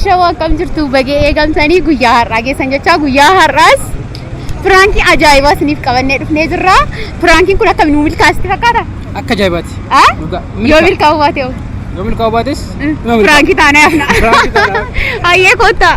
Shawaa akkam jirtu bagee eegamtanii guyyaa har'aa geessan jechaa guyyaa har'aas piraankii ajaa'ibaa isiniif qabannee dhufnee jirra. Piraankiin kun akkamiin nu milkaa'aa fakkaata? Akka ajaa'ibaati. Ah? Dhugaa. Yoo milkaa'uu baate hoo? Yoo milkaa'uu baates. Piraankii taanee hafna. Piraankii taanee hafna. Hayyee koottaa.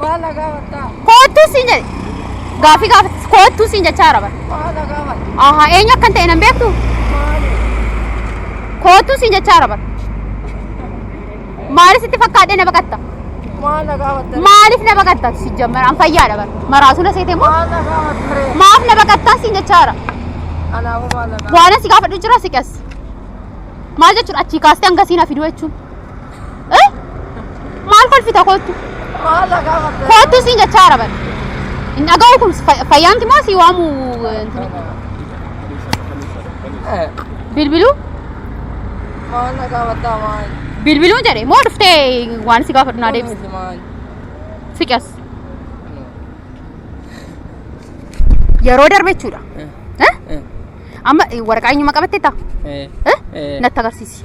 Maal na gaafattaa? Koottuu siin jedhe. Gaafii gaafata. Koottuu siin jechaa jira bara. Maal na gaafata? Aha eenyu akkan ta'e nan beektu. Maali? Koottuu siin jechaa jira bara. Maalis itti fakkaadhee na baqatta. Maal na gaafatta? Maaliif na baqatta si jammara an fayyaadha bara. Maraasuu na seetee moo? Maal na gaafatta ree? Maaf na baqattaa siin jechaa jira. Anaafuu maal na gaafatta? Waan asi gaafadhu jira si qes. Maal jechuudha achii kaastee hanga siin hafiduu jechuun. Eh? Maal kolfita koottu? Koottu siin jechaa jira bari. Hin dhaga'u kun fa- fayyaanti moo sii waamu eh, intini? Bilbiluu? Bilbiluu jedhe moo dhuftee waan si gaafadhu naa deebisa. Siqas. Yeroo darbe jechuudha. Eh? Amma eh, waraqaa eenyummaa qabattee taa? Eh? Natti agarsiisi.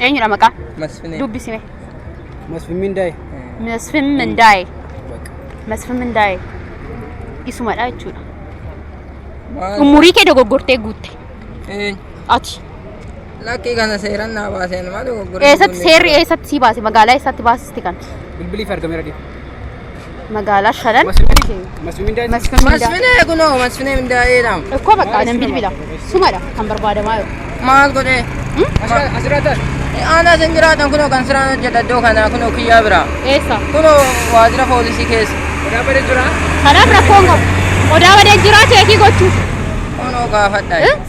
Eenyudha maqaa? Masfinee. Dubbisime. Masfin Mindaa'e. Masfin Mindaa'e. Masfin Mindaa'e. Isumadha jechuudha. Maal? Umurii kee dogoggortee guutte. Eenyu? Ati. Lakkii kana seeran naa baaseen maal dogoggoree Eessatti seerri eessatti sii baase? Magaalaa eessatti baasisti kana? Bilbiliif argameera dhiibu. magaalaa shanan Masfinee kunoo masfinee mindaa eedhaam. Ikkoo bakka anan bilbila sumadha kan barbaadamaa jiru. Maal godhee? Aanaa isin jiraatan kunoo kan siraan hojjeta iddoo kanaa kunoo kiyyaa biraa. Eessa? Kunoo waajjira poolisii keessa. Kanaaf rakkoon qabu. Odaa badee jiraa cheekii gochuuf. Kunoo gaafadha. Eh?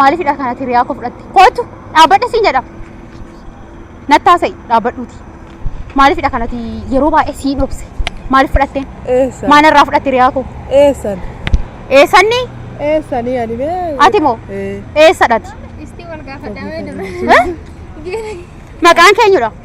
Maaliifidha kanati hiriyaa koo fudhatte? Kootu dhaabbadha siin jedha. Natti haasa'i dhaabbadhuuti. Maaliifidha kanati yeroo baay'ee siin obse? Maaliif fudhatteen? Eessan. Maal irraa fudhatte hiriyaa koo? Eessan. Eessanni Eessanii ani mee. ati moo Ee. eessadhati? Istii wal gaafadhaa mee dura. Maqaan keenyudha.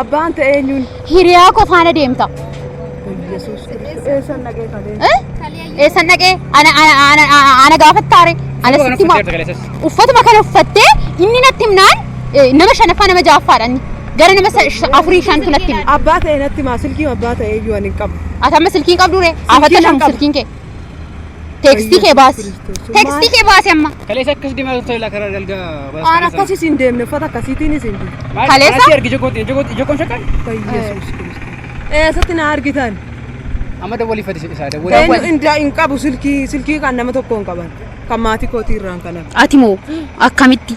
Abbaan ta'e eenyuun? Hiriyaa koo faana deemta. Yesuus Kiristoos. Eessan dhaqee kalee? Eh? Eessan dhaqee? Ana ana ana ana- ana gaafattaare. Ana Sirba sitti kana ma- uffattee argaleessas. uffatuma kana uffattee inni natti himnaan eh, nama shanaffaa nama ja'affaadha inni. Gara nama sa- sh- afurii shantu natti hima. Abbaa ta'e natti maa silkiin abbaa ta'e iyyuu ani hin qabu. Ati amma silkiin qabdu ree? Afatta nan shan qabu. silkiin kee. Teekstii kee baasi. Teekstii kee baasi amma. Kaleessa akkas deemaa turte laa karaa dalga Waan akkasii siin deemne uffata akkasiitiin isin deemne. Kaleessa? Kaleessa ergi jokooti jokooti jokoon shakkan. Yesuus Kiristoos. Eessatti na argitan? Amma dawwalii fadhi isaa dawwalii. Eenyu indaa hin qabu silkii silkii kan nama tokko hin qaban. Kan maatii kootii irraan kanan. Ati moo akkamitti?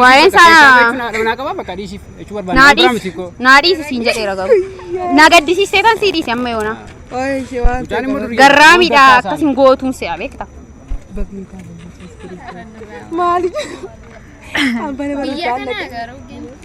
Waa'een isaa naa dhiisi siin jedheera garuu. Na gaddisiistee kan sii dhiise amma yoona. Garraamiidha akkas hin gootuun se'a beekta. Maali? Biyya kana garuu.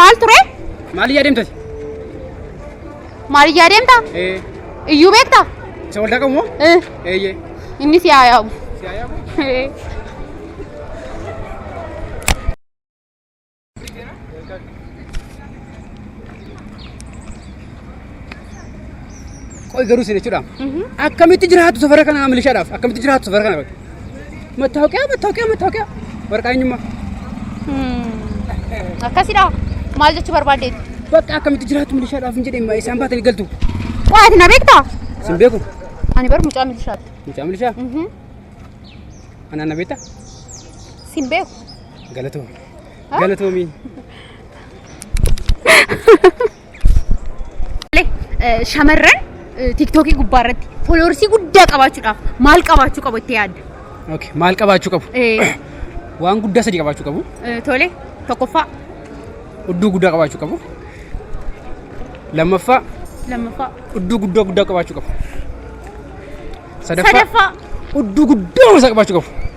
Maal ture? Maal iyyaa deemtati? Maal iyyaa deemta? Iyyuu beekta? Isa waldaa qabu moo? Eeyyee. Inni si haa yaabu. Si haa yaabu? Qoy garuu isin jechuudha. Akkamitti jiraatu safara kana milishaadhaaf? Akkamitti jiraatu safara kana? Mattaawoqiyaa, mattaawoqiyaa, mattaawoqiyaa. Waraqaa eenyummaa. Akkasidha. Maal jechuu barbaaddeetti? Bakka akkamitti jiraatu milishaadhaaf hin jedhee isaan baatanii galtu. Waa ati na beektaa? Isin beeku. Ani bar mucaa milishaatti. Mucaa milishaa. Anaan na beektaa? Sin beeku. Galatoomi. Galatoomi. Eh, Shamarran eh, tiktookii gubbaa irratti fooloorsii guddaa qabaachuudhaaf maal qabaachuu qabu itti yaadda? Okay. Maal qabaachuu qabu? Eh, Waan guddaa sadii qabaachuu qabu. eh, Tole tokkoffaa Udduu guddaa qabaachuu qabu. Lammaffaa lammaffaa udduu guddaa guddaa qabaachuu qabu. Sadaffaa sadaffaa udduu guddaa isaa qabaachuu qabu.